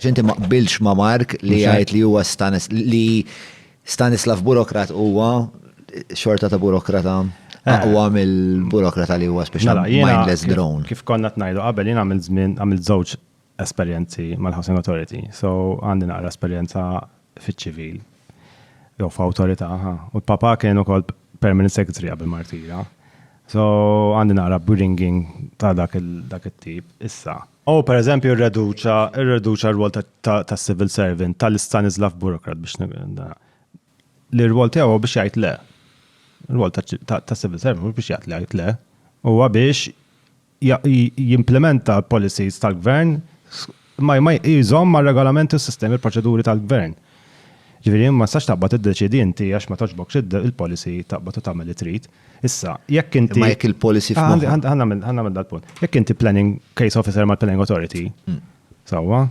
Xinti ma qbilx ma Mark li għajt li huwa Stanis li Stanislav burokrat huwa xorta ta' burokrata eh. aqwa mill-burokrata li huwa speċjal mela, mindless drone. Kif konna tnajdu qabel jien għamil żmien għamil żewġ esperjenzi mal-Housing Authority, so għandi naqra esperjenza fiċ-ċivil jew f'awtorità, u l-papa kien ukoll permanent secretary qabel martira. So għandi naqra bringing ta' dak il-tip issa. U per eżempju rreduċa, rreduċa r-rwol ta' civil servant tal-Stanislav Burokrat biex li r-rwol tiegħu biex jgħid le. R-rwol ta' civil servant biex jgħid le, le. Huwa biex jimplementa policies tal-gvern ma jżomm ma' regolamenti u sistemi proċeduri tal-gvern. Ġifieri ma sax taqbad iddeċidi inti għax ma toġbokx il-policy taqbad u tagħmel li trid. Issa, jekk inti. Imma jekk il-policy ah, f'moħħ. Għan nagħmel għan nagħmel dal-punt. Jekk inti planning case officer mal-planning authority, hmm. sewwa,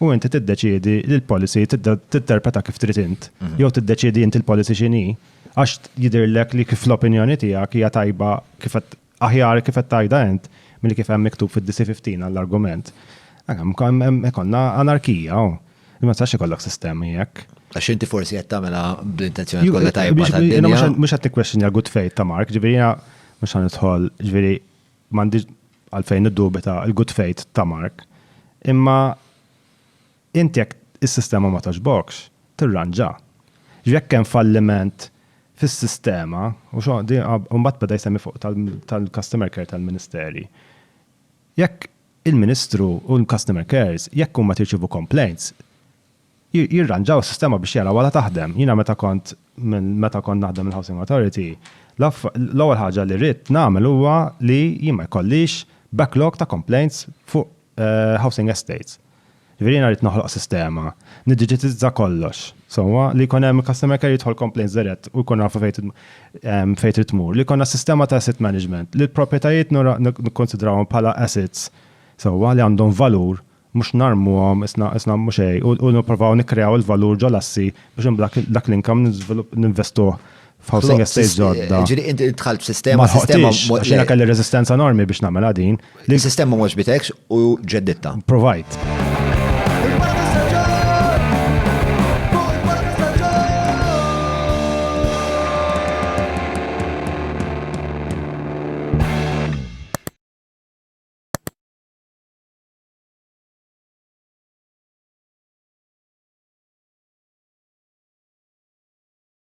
u inti tiddeċiedi li l-policy titterpreta kif trid int, hmm. jew tiddeċiedi inti l-policy x'inhi, għax jidhirlek li kif l-opinjoni tiegħek hija tajba kif aħjar kif qed tajda int milli kif hemm miktub fid-DC15 għall-argument. Għam, konna anarkija, oh. Imma tax ikollok sistemi jekk. Għax inti forsi qed tagħmilha bl-intenzjoni kollha tajba tad-dinja. Mhux qed tikkwestjoni għal good faith ta' Mark, ġifieri mhux ħan nidħol, ġifieri m'għandix għalfejn niddubita l-good faith ta' Mark. Imma inti jekk is-sistema ma togħġbokx, tirranġa. Jekk hemm falliment fis-sistema, u xogħol mbagħad beda jsemmi fuq tal-customer care tal-Ministeri. Jekk il-Ministru u l-Customer Cares, jekk huma tirċievu complaints, jirranġaw is-sistema biex jaraw għala taħdem. Jiena meta kont, meta kont naħdem mill-Housing Authority, l-ewwel ħaġa li ridt nagħmel huwa li jien ma jkollix backlog ta' complaints fuq housing estates. Jiġifieri jiena rrid noħloq sistema, niddiġitizza kollox, sewwa, li jkun hemm customer care jidħol complaints dirett u jkun nafu fejn ehm, fejn trid tmur. Li jkollna sistema ta' asset management li l-proprjetajiet nikkonsidrawhom bħala assets sewwa li għandhom valur mhux narmuhom isna isna mhux xejn u nipprovaw nikkreaw il-valur ġol-assi biex imbagħad dak l-inkam ninvestuh F'housing estates ġodda. Ġiri, inti tħalt f'sistema, sistema. Xina kelli rezistenza enormi biex namela din. Li sistema mhux bitekx u ġedditta. Provajt.